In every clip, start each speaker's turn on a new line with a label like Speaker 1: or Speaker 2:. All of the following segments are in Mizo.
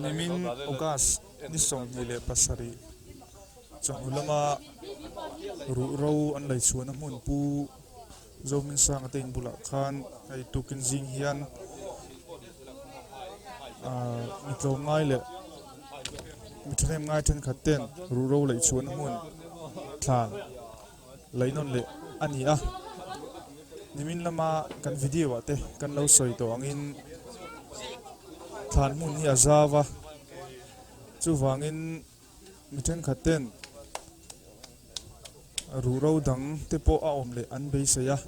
Speaker 1: Nimin August ni sawmhnih leh pasarih Chawhnu lama ruhro an lei chhuahna hmun Pu Zomin Sanga te inbulah khan hei tukin zing hian mitlawm ngai leh mi thahnem ngai thenkhat ten ruhro lei chuan hmun thlan leinon leh a ni a nimin lama kan video ah te kan lo sawi tawh angin thlan hmun hi a zau a chuvangin Mi thenkhat ten ruhro dang te pawh a awm leh an beisei a.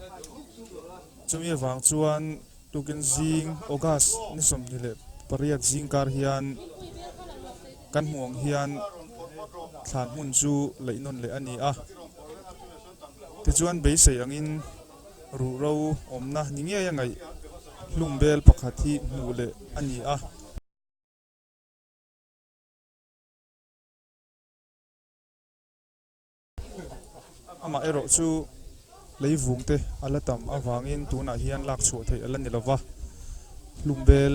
Speaker 1: Chumi avang chuan tukin zing August ni sawmhnih leh pariat zingkar hian kan hmuh ang hian thlan hmun chu laihnawn leh a ni a. Tichuan beisei angin ruhro awmna ni ngei a ngaih hlum vel pakhat hi hmuh leh a ni a. Amah erawh chu leivung te a la tam avangin tunah hian lak chhuah theih a la ni lova, hlumbel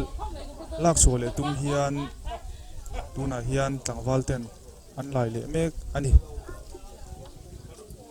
Speaker 1: lak chhuah leh tum hian tunah hian tlangval ten an lai leh mek a ni.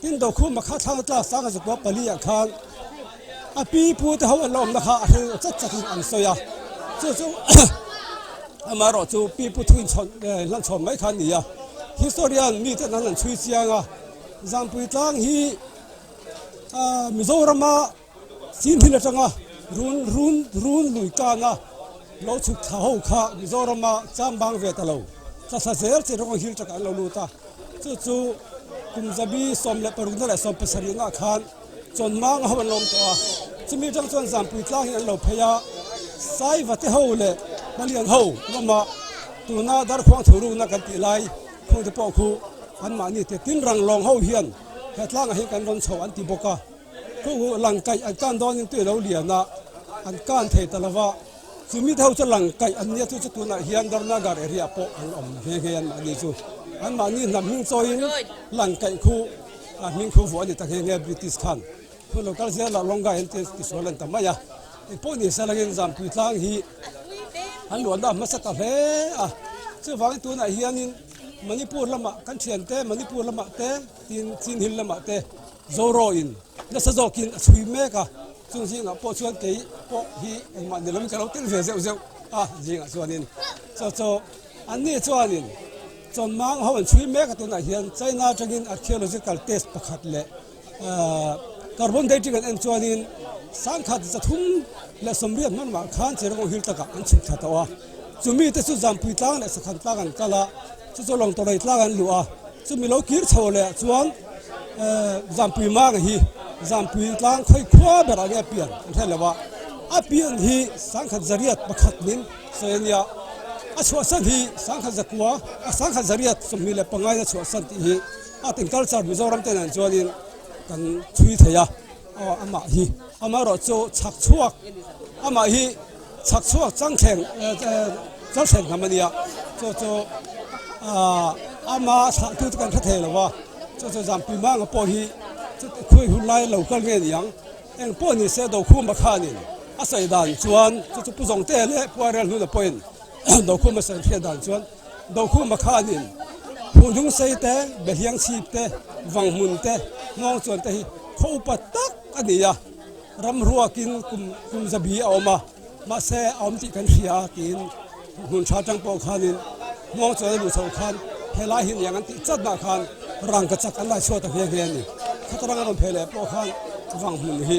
Speaker 1: Tin Dokhum a kha thlang tlak sang a zukua pali ah khan a pi pu te ho an lo awmna kha a hrilh chat chat in an sawi a, chu chu ama erawh chu pi pu thu in chhawn eh hlan chhawn mai kha a ni a, historian mi ten an han chhui chiang a Zangpuitlang hi ah Mizoram a Chin thil atanga run run run lui kana lo chhuk thla ho kha Mizorama chambang ve ta lo. Thlatha zel che rawng hil taka an lo lut a. Chu chu kum zabi sawm leh parukna leh sawm pasarih na khan chawn manga ho an lawm tawh a. Chumi atang chuan zanpui tlang hi an lo phei a. Saiva te ho leh Palian ho lamah tuna dar khuang thu rukna kan tih lai khuang te pawh khu an mahni te tin rang lawng ho hian he tlangah hian kan rawn chho an ti bawk a. Khaw ngawh lang kaih an kan dawn in tui lo lian a, an kan thei ta lo va. Chu mite ho chu lang kaih an nia chu chu tunah hian Dharna Gar area ah pawh an awm nghe nghe an mah ni chu. An mahni hnam hming chawi in lang kaih khu ah hming khu vuah a ni ta nghe nghe British khan. Hun lo kal zia lah Rongai an ti ti sual a ni ta mai a. Kei pawh ni se langin Zamtui tlang hi an luah na hmasa ta hle a. Chu vang in tunah hian in Manipur lamah kan thian te Manipur lamah te tin Chin Hill lamah te, Zoraw in nasa zawkin a chhui mek a, chung zingah pawh chuan kei pawh hi engmah ni loin ka lo tel ve zeuh zeuh a zingah chuanin chaw chaw an ni chuanin chawn mang ho an chhui mek a tunah hian China atangin archaeological test pakhat leh carbon dating an en chuanin sangkhat za thum leh sawmriat hmanrua khan che rawng hil takah an chhuk thla tawh a chumi te chu zanpui tlang leh sakhan tlang an kal a. Chu chu lawng tawrei tlâng an luh a, chu mi lo kir chho leh ah chuan Zampui Manga hi Zampui tlâng khawi khua ber ah nge a pian an hre lo a, a pian hi Sangkhat Zariat pakhat min sawi a nia, a chhuahsan hi Sangkhat Zakua, Sangkhat Zariat sawmhnih leh pangngaina chhuahsan tih hi Art and Culture Mizoram te nen chuan in kan chhui thei a. Aw amah hi amaherawh chu chhak chhuak amah hi chhak chhuak chang thleng chang thleng hnam a nia chu chu ah ama thlah tu te kan hre thei lo a chu chu zan pui hmanga pawh hi khawi hun lai lo kal nge niang eng pawh ni se do khuma khanin a sawi dan chuan chu chu pu zawngte leh puairel hnuna pawhin do khuma sawi hriat dan chuan Dokhum a khan in phuhnung sei te, biahiang chhip te, vang hmun te, hmawng chuan te hi khaw upa tak a ni a, ram ruak in kum kum zabi a awm a, mahse a awm tih kan hria tiin hmun tha tang pawh khan in hmawng chuan a luh chhoh khan he lai hi niang an tih chat dah khan rang ka chak an laichhuat ang nghe nghe a ni, khatrang a rawn pheh leh pawh khan vang hmun hi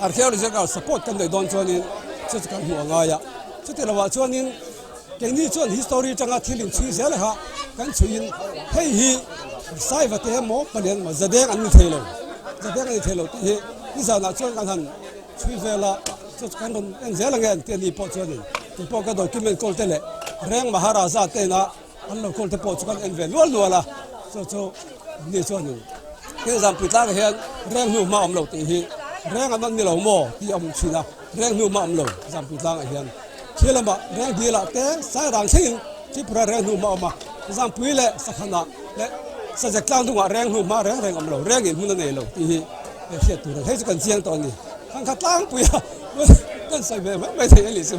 Speaker 1: Archaeological support kan neih dawn chuanin chu chu kan hmu a ngai a, chuti lohah chuanin keini chuan history tanga thil in chhui zel kha kan chhuiin hei hi saiva te emaw palian emaw zadeng an ni thei lo zadeng a ni thei lo tih hi nizanah chuan kan han chhui vel a chu chu kan rawn en zel ange an tih a ni pawh chuanin tupawh ka document kawlte leh reng maharaja te ina An lo call te pawh chu kan en ve lual lual a, chu chu ni chuan thil zam pui tlang ah hian reng hnu hma awm lo tih hi reng an awm ni lo maw tih a hmu thin a, reng hnu hma awm lo zam pui tlang ah hian khi lamah reng dil ah te sai rang thleng in Tripura reng hnu hma awm a, zam pui leh sakhan ah leh sajek tlang dung ah reng hnu hma reng reng awm lo reng in hmun a nei lo tih hi a hriat tur a ni, hei chu kan chiang tawh a ni, tangka tlang pui a kan sawi ve mai mai thei a ni chu.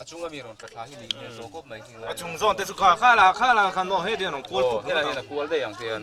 Speaker 1: A chunga mi rawn tla thla hi nih hmel tawh kawp mai hi. A chung zawn te chu kha kha la kha la khan maw hei dian rawn kual phut hian a kual daih ang hian.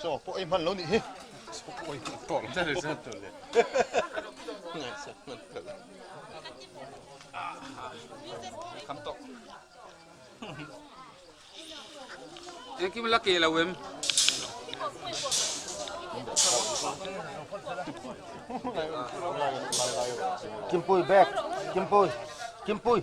Speaker 1: Chaw pawh ei hman lo nih hi. Engkim la ke lo em? Kimpui bag, Kimpui, Kimpui.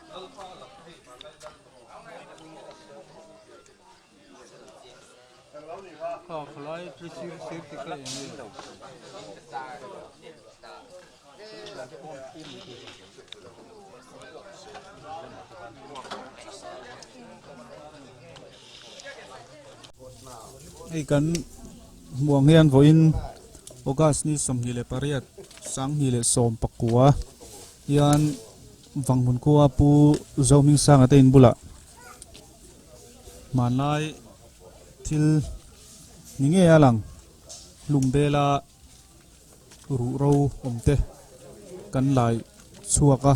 Speaker 1: Hei kan hmuhang hian vawiin August ni sawmhnih leh pariat sanghnih leh sawmpakua hian-- Vanghmunkhua Pu Zohming Sanga te in bulah hmanlai thil ni ngei a lang hlum bela ruh ro awm te kan lai chhuak a.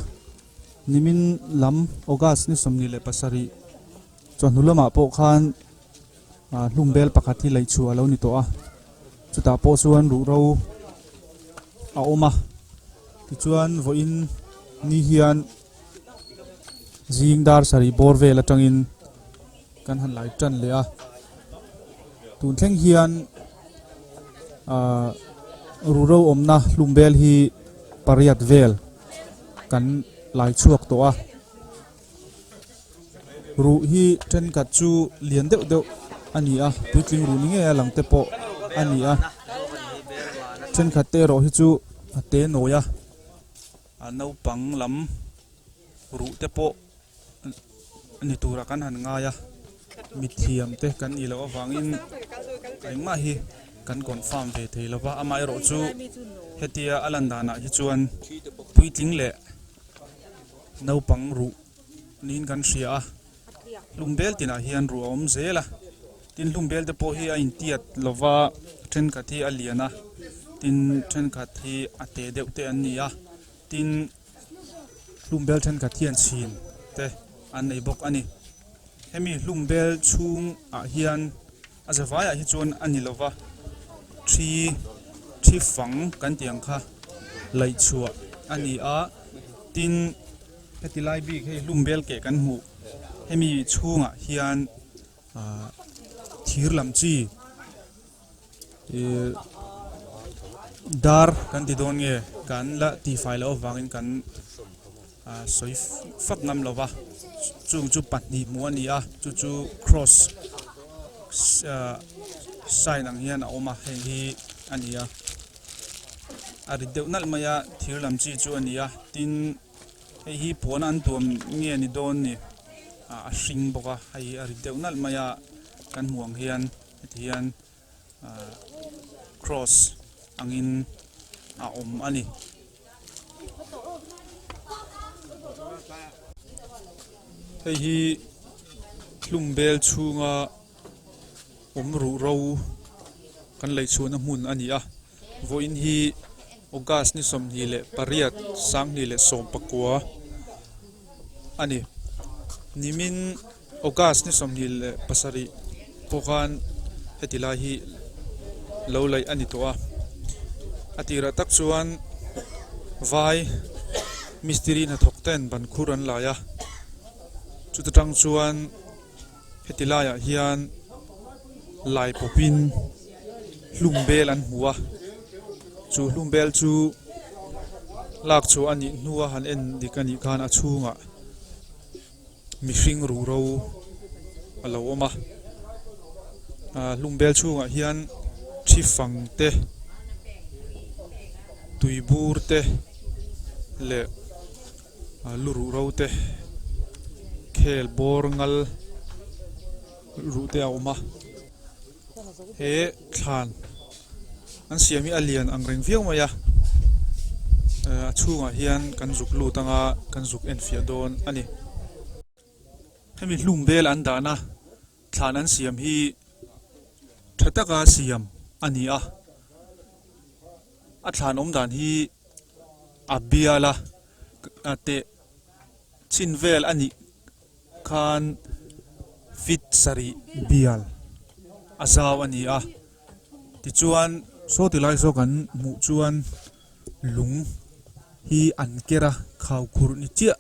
Speaker 1: Nimin lam August ni sawmnihah leh pasarih, Chuan hnu lamah pawh khan hlum bel pakhat hi lei chhuah a lo ni tawh a, chutah pawh chuan ruhro a awm a, tichuan vawiin ni hian zing dar sarih bawr vel atangin kan han lai tan leh a, tun thleng hian ruhro awmna hlum bel hi pariat vel kan lai chhuak tawh a. ruh hi thenkhat chu lian deuh deuh a ni a puitling ruh ni ngei a lang te pawh a ni a thenkhat te erawh hi chu a te nawi a a naupang lam ruh te pawh ni tura kan han ngai a mithiam te kan nih loh avangin engmah hi kan confirm ve thei lo va amaherawhchu hetia a lan danah hi chuan puitling leh-- Naupang ruh niin kan hria a, hlum bel tinah hian ruh a awm zel a, tin hlum bel te pawh hi a intiat lo va, thenkhat hi a lian a, tin thenkhat hi a te deuh te an ni a, tin hlum bel thenkhat hian chhin te an nei bawk a ni. Hemi hlum bel chhungah hian. A za vaiah hi chuan a ni lova, thi thi fang kan tih ang kha laih chhuah a ni a, tin heti lai bik hei hlum vel keh kan hmuh hemi chhungah hian ah thir lam chi ih dar kan ti dawn nge kan la tihfai loh avangin kan Ahh sawi fak ngam lo va, chung chu pahnih hmuh a ni a, chu chu cross ahh sign ang hian a awm a, heng hi a ni a, a ri deuh nalh mai a, thir lam chi chu a ni a, tin hei hi puana an tuam nge a ni dawn ni, ahh a hring bawk a, hei hi a ri deuh nalh mai a, kan hmuh ang hian hetihian. Cross angin a awm a ni. Hei hi hlum bel chhunga awm ruh ro kan lei chhuahna hmun a ni a. Vawiin hi August ni sawmhnih leh pariat sanghnih leh sawmpakua a ni. Nimin August ni sawmhnih leh pasarih pawh khan heti lai hi lo laih a ni tawh a. A tirah tak chuan vai mistiri hnathawk ten ban khur an lai a. Chuta tang chuan. Heti laiah hian Lai pawpin hlum bel an hmu a, chu hlum bel chu lak chhuah a nih hnua han en dik a nih khan a chhungah mihring ruhro a lo awm a, ahh hlum bel chhungah hian thi fang te, tui bur te leh. lu ruh ro te khel bawr ngal ruh te a awm a he thlan an siam hi a lian ang reng viau mai a eh, a chhungah hian kan zuk lut anga kan zuk en fiah dawn a ni hemi hlum vel an dahna thlan an siam hi tha taka siam a ni a A thlan awm dan hi a bial a, a teh chin vel a nih khan fit sarih bial a zau a ni a. Tichuan saw ti lai saw kan hmuh chuan lung hi an ker a, khau khur ni chiah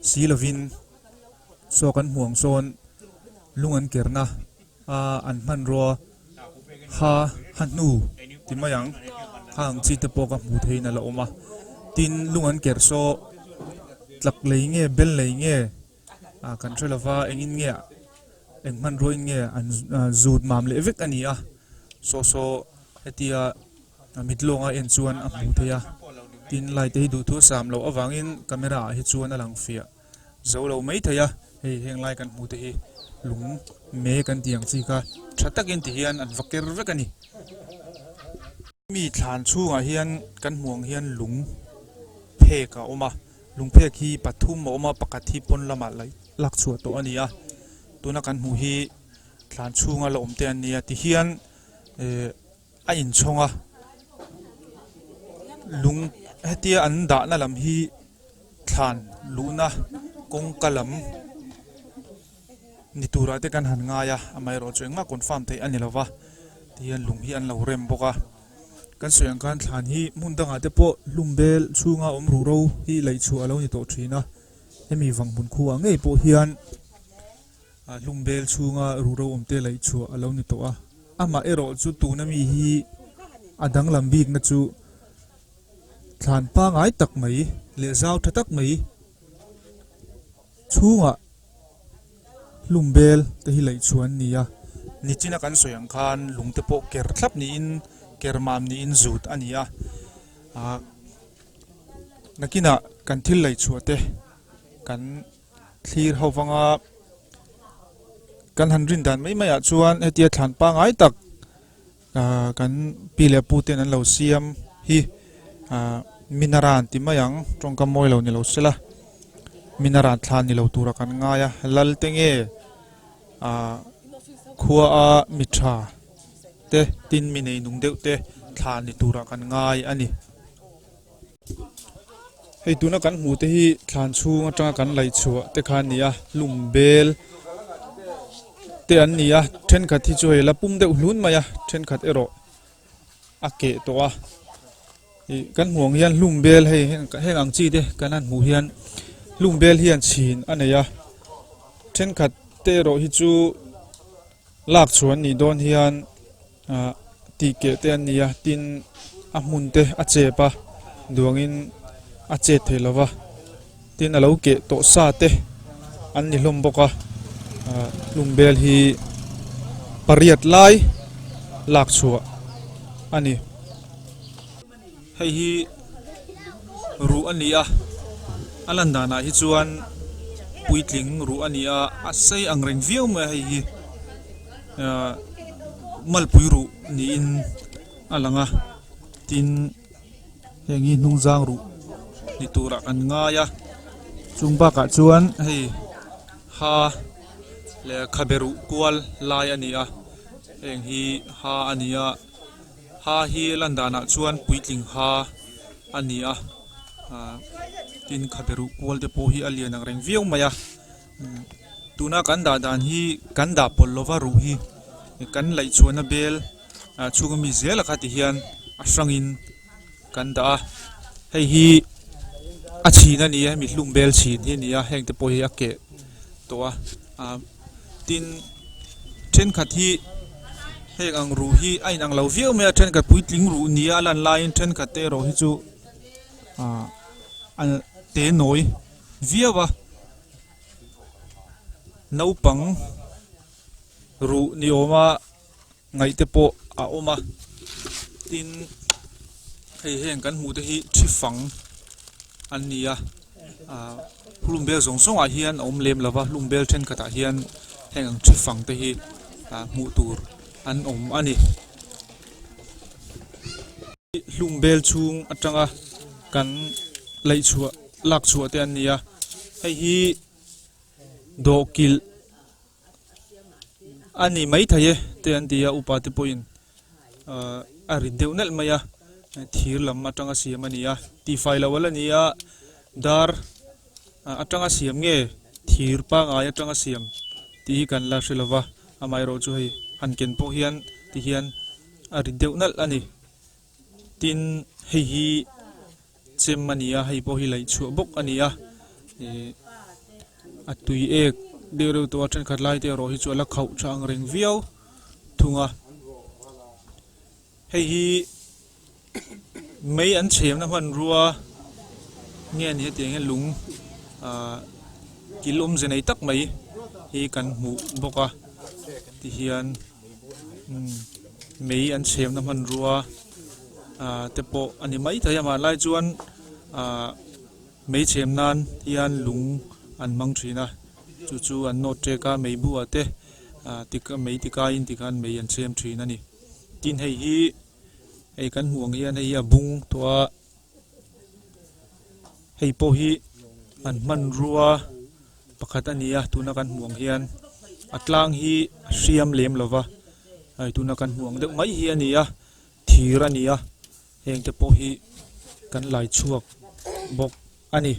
Speaker 1: si lovin saw kan hmuh ang sawn lung an ker na a an hman rua. Kha a hnu ti mai ang, kha ang chi te pawh ka hmuh theihin a la awm a, tin lung an ker saw tlak lei nge bel nei nge ah kan hre lova engin nge eng hmanruain nge an zut mam leh vek a ni a, saw saw hetia mitlawnga en chuan a hmuh theih a tin light te hi duh thur sam loh avangin camera ah hi chuan a lang fiah. Zo lo mai thei a, hei heng lai kan hmuh te hi lung me kan tih ang chi kha, tha takin ti hian an va ker vek a ni. Hemi thlan chhungah hian kan hmuh ang hian lung phek a awm a, lung phek hi pathum a awm a, pakhat hi pawn lamah la lak chhuah tawh a ni a, tuna kan hmuh hi thlan chhunga la awm te an nia ti hian ehh. A inchhawng a, lung hetia an dahna lam hi thlan luhna kawngka lam ni turah te kan han ngai a, amaherawhchu eng mah confirm theih a ni lova tih hian lung hi an lo rem bawk a. Kan sawi ang khan thlan hi hmun dangah te pawh hlum bel chhunga awm ruh ro hi laih chhuah a lo ni tawh thin a, hemi vang hmun khu ah ngei pawh hian A hlum vel chhunga ruhro awmte laih chhuah a lo ni tawh a. Amaherawh chu tuna mi hi a danglam bikna chu thlan pangai tak mai leh zau tha tak mai chhunga hlum vel te hi laih chhuah an ni a. Nichina kan sawi ang khan lungte pawh ker thlap niin ker mam niin zut a ni a. Ahh nakinah kan thil laih chhuah te kan. Thlir ho vanga kan han rindan mai maiah chuan hetia thlan pangai tak kan pi leh pu ten an lo siam hi minaran ti mai ang tawngka mawi lo ni lo sela minaran thlan ni lo tura kan ngai a lal te nge khua a mi tha te tin mi nei nung deuh te thlan ni tura kan ngai a ni. hei tuna kan hmuh te hi thlan chhung atanga kan laih chhuah te kha a ni a hlum bel te an ni a thenkhat hi chu hei la pum deuh hlun mai a thenkhat erawh a keh tawh a ih kan hmuh ang hian hlum bel hei heng ang chi te kan han hmuh hian hlum bel hian chhin a nei a thenkhat te erawh hi chu-- Lak chhu an nih dawn hian tih keh te an ni a, tin a hmun te a chep a, duangin a chet theih lo va, tin a lo keh tawh sa te an ni hlawm bawk a, hlum vel hi pariat lai lak chhuah a ni. Hei hi ruh a ni a, a lan danah hi chuan puitling ruh a ni a, a sei ang reng viau mai a hei hi ah malpui ruh niin a lang a, tin heng hi hnungzang ruh ni turah kan ngai a, chung bakah chuan hei ha leh khabe ruh kual lai a ni a, heng hi ha a ni a. Ha hi Landanah chuan puitling ha a ni a, tin khaberuh kual te pawh hi a lian ang reng viau mai a. Tuna kan dah dan hi kan dah pawlh lova ruh hi kan laih chhuahna bel chhunga mi zel a kha ti hian a hrangin kan dah a. Hei hi a chhin a ni a, hemi hlum bel chhin hi a ni a, heng te pawh hi a keh tawh a. tin thenkhat hi heng ang ru hi a inang lo viau mai a thenkhat puitling ru nia a lan laiin thenkhat te erawh hi chu ah a te nawi viau a naupang ruh ni awma-- ngaih te pawh a awm a tin hei heng kan hmuh te hi thi fang an ni a ah hlum bel zawng zawng ah hian a awm lem lo va hlum bel thenkhat ah hian heng ang thi fang te hi ah hmuh tur an awm a ni hlum bel chhung atanga kan lei chhuah lak chhuah te an ni a hei hi dawhkilh-- A ni mai thei e te an ti a, upa te pawhin ahh a ri deuh nelh mai a, thir lam atanga siam a ni a, tifai lo ala ni a, dar ah atanga siam nge thir pangai atanga siam tih hi kan la hre lo va, amaherawh chu hei han ken pawh hian tihian a ri deuh nalh a ni, tin hei hi. Chem a nia, hei pawh hi laih chhuah bawk a nia. Ih, a tui ek deuh reuh tawh a, thenkhat lai te erawh hi chu a la khauh tha ang reng viau thung a. Hei hi mei an chhemna hmanrua nge a ni hetiang hian lung ah kil awmze nei tak mai hi kan hmuh bawk a ti hian. mei an chhiamna hmanrua te pawh a ni mai thei a mah lai chuan mei chhiam nan hian lung an hmang thin a chu chu an note ṭek a mei bu ah te mei ti kaiin ti khan mei an chhiam thin a ni tin hei hi hei kan hmuh ang hian hei hi a bung tawh a. hei pawh hi an hmanrua pakhat a ni a tuna kan hmuh ang hian a tlang hi a hriam lem lo va hei tuna kan hmuh ang deuh mai hi a ni a thir a ni a heng te pawh hi kan laichhuak bawk a ni.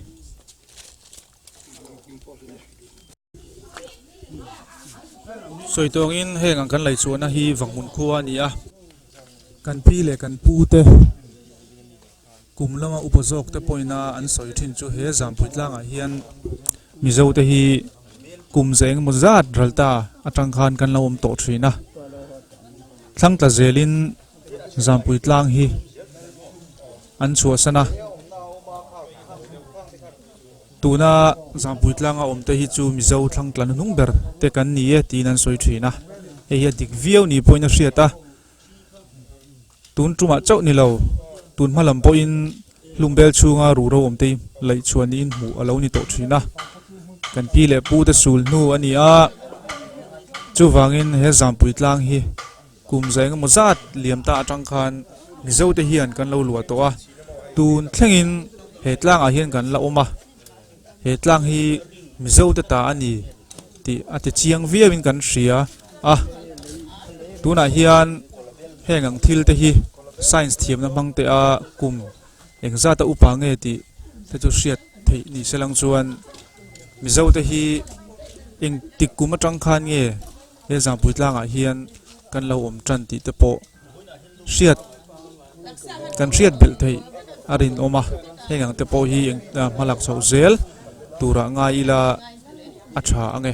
Speaker 1: sawi tawngin heng ang kan lei chhuahna hi vanghun khua a ni a kan pi leh kan pu te kum lama upa zawk te pawh ina an sawi thin chu he zanpui tlang ah hian mizo te hi kum zah eng emaw zat ral ta a tang khan kan lo awm tawh thin a thlang ta zel in zanpui tlang hi an chhuah san a. Tuna Zangpui tlanga awmte hi chu Mizo thlangtla nuhnung ber te kan ni e tiin an sawi thin a, hei hi a dik viau ni pawhin a hriat a, tun tumah chauh ni lo tun hma lam pawhin Hlumbel chhunga ruro awmte hi laih chhuah niin hmuh a lo ni tawh thin a, kan pi leh pu te sul hnu a ni a, chuvangin he Zangpui tlang hi, Kum za engemaw zat liam ta atang khan Mizo te hian kan lo luah tawh a, tun thlengin he tlangah hian kan la awm a, he tlang hi Mizo te ta a ni tih a ti chiang viauin kan hria a, tunah hian heng ang thil te hi Science thiamna hmang te a kum eng zata upa nge tih te chu hriat theih ni selang chuan Mizo te hi engtik kum atang khan nge, He zangpui tlangah hian kan lo awm ṭan tih te pawh hriat kan hriat belh theih a rinawm a, heng ang te pawh hi eng a hmalak chhoh zel turah ngai ila a ṭha ang e.